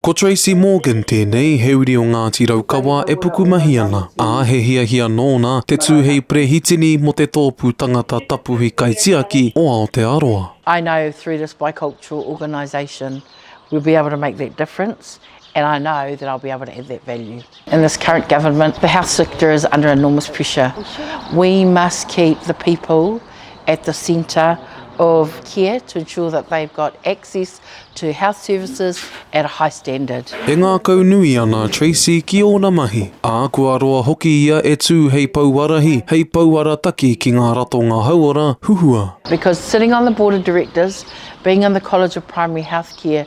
Ko Tracy Morgan tēnei, he uri o Ngāti Raukawa e pukumahi ana, ā, he hiahia nōna te tū hei Perehitini mō te Tōpū Tangata Tapuhi Kaitiaki o Aotearoa. I know through this bicultural organisation we'll be able to make that difference and I know that I'll be able to add that value. In this current government, the health sector is under enormous pressure. We must keep the people at the centre of care to ensure that they've got access to health services at a high standard. E ngākaunui ana a Tracey ki ōna mahi, ā, kua roa hoki ia e tū hei pouarahi, hei pouarataki ki ngā ratonga hauora huhua. Because sitting on the Board of Directors, being on the College of Primary Healthcare,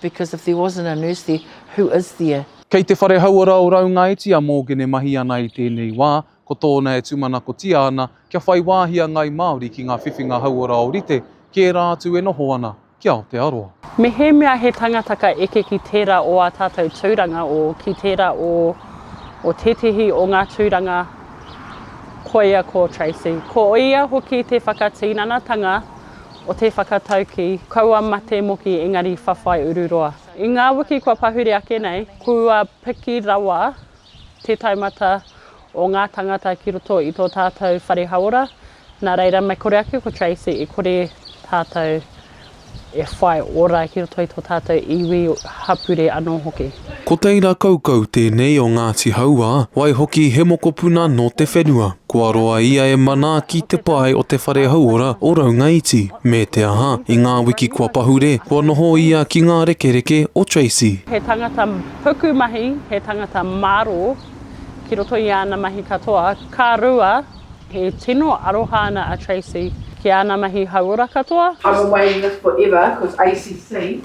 Because if there wasn't a nurse there, who is there? Kei te whare hauora o Raungaiti a Morgan e mahi ana i tēnei wā, ko tōna e tūmanakotia ana kia whai wāhi a Ngāi Māori ki ngā whiwhinga hauora ōrite ki ērā atu e noho ana ki Aotearoa. Mehemea he tangata ka eke ki tērā o ā tātou tūranga, o ki tērā o, o tētehi o ngā tūranga, koia ko Tracey. Ko ia hoki te whakatinanatanga o te whakataukī kaua mate moki engari whawhai ururoa. I ngā wiki kua pahure ake nei, kua piki rawa te taumata o ngā tāngata ki roto i tō tātou whare hauora, nā reira me kore ake ko Tracey i kore tātou e whai ora ki roto i tō tātou iwi hapūre anō hoki. Ko Teira Kaukau tēnei o Ngāti Hauā, waihoki he mokopuna nō te whenua. Kua roa ia e manaaki te pae o te whare hauora o Raungaiti, me te aha, i ngā wiki kua pahure, kua noho ia ki ngā rekereke o Tracey. He tangata pukumahi, he tangata mārō ki roto i āna mahi katoa. Ka rua, he tino aroha ana a Tracey ki āna mahi hauora katoa. I'm a waiata forever, cos ACC.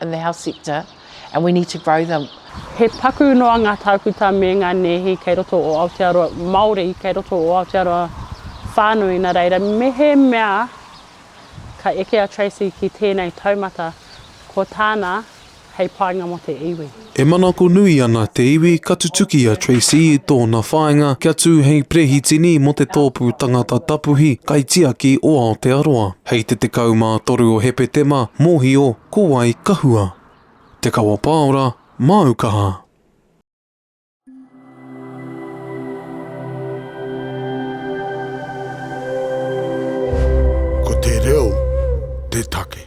in the health sector and we need to grow them. He paku noa ngā tākuta me ngā nēhi kei roto o Aotearoa, Māori kei roto o Aotearoa whānui nā reira mehemea ka eke a Tracey ki tēnei taumata ko tāna hei painga mō te iwi. E manako nui ana te iwi ka tutuki a Tracey i tōna whāinga kia tū hei Perehitini mō te Tōpū Tangata Tapuhi Kaitiaki o Aotearoa hei te 13 o Hepetema, mōhio ko wai ka hua. Te Kawa Paora, māu kaha. Ko te reo te take.